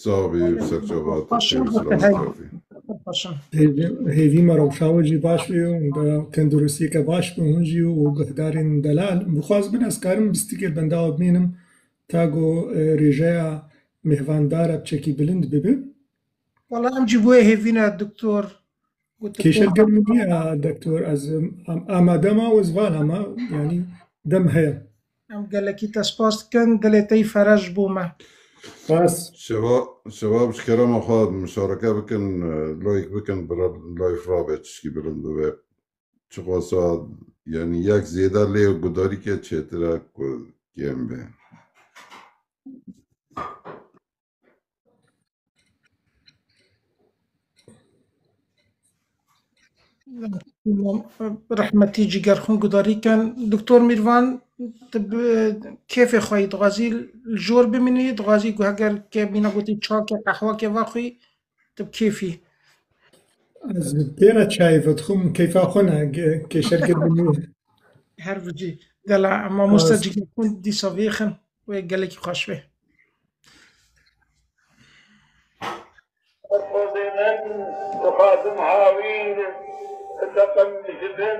Zavê serçevat hêvî me rewşa wê jî baş bê û tenduristiyeke baş bi hûn jî û guhdarên delal bixwaz bin ez karim bistikê benda ew bimînim ta ku rêjeya mêhvandar e çekî bilind bibe. Wala em jî boyê hêvîna doktor Kêşe germ niya doktor ez amade ma wezvala ma yanî dem heye. Em gelekî te spas dikin, dilê te yî feraj bû me. Spas. Şeva, şeva bi ji kerema xwe muşareke bikin, layik bikin, bira layif rabe çişkî bilind bibe. Çiqasa yani yek zêde lê gudarîke çêtir e ku kêm be. Rehmetî cîger xwe gudarî kin Doktor Mîrvan tu bi kêfê xwe yî dixwazî li jor bimînî dixwazî ku heger ke mîna gotî çayeke qehweke vexwî Tu bi kêfî. Ez têra çayê vedixwim, keyfa xwe ne, kêşergir biniye. Her vicî. Gela mamosta cigirtin dîsa vêxin wê gelekî xweş wê. Xwedê min dixwazim hawîr, bi teqem ji bin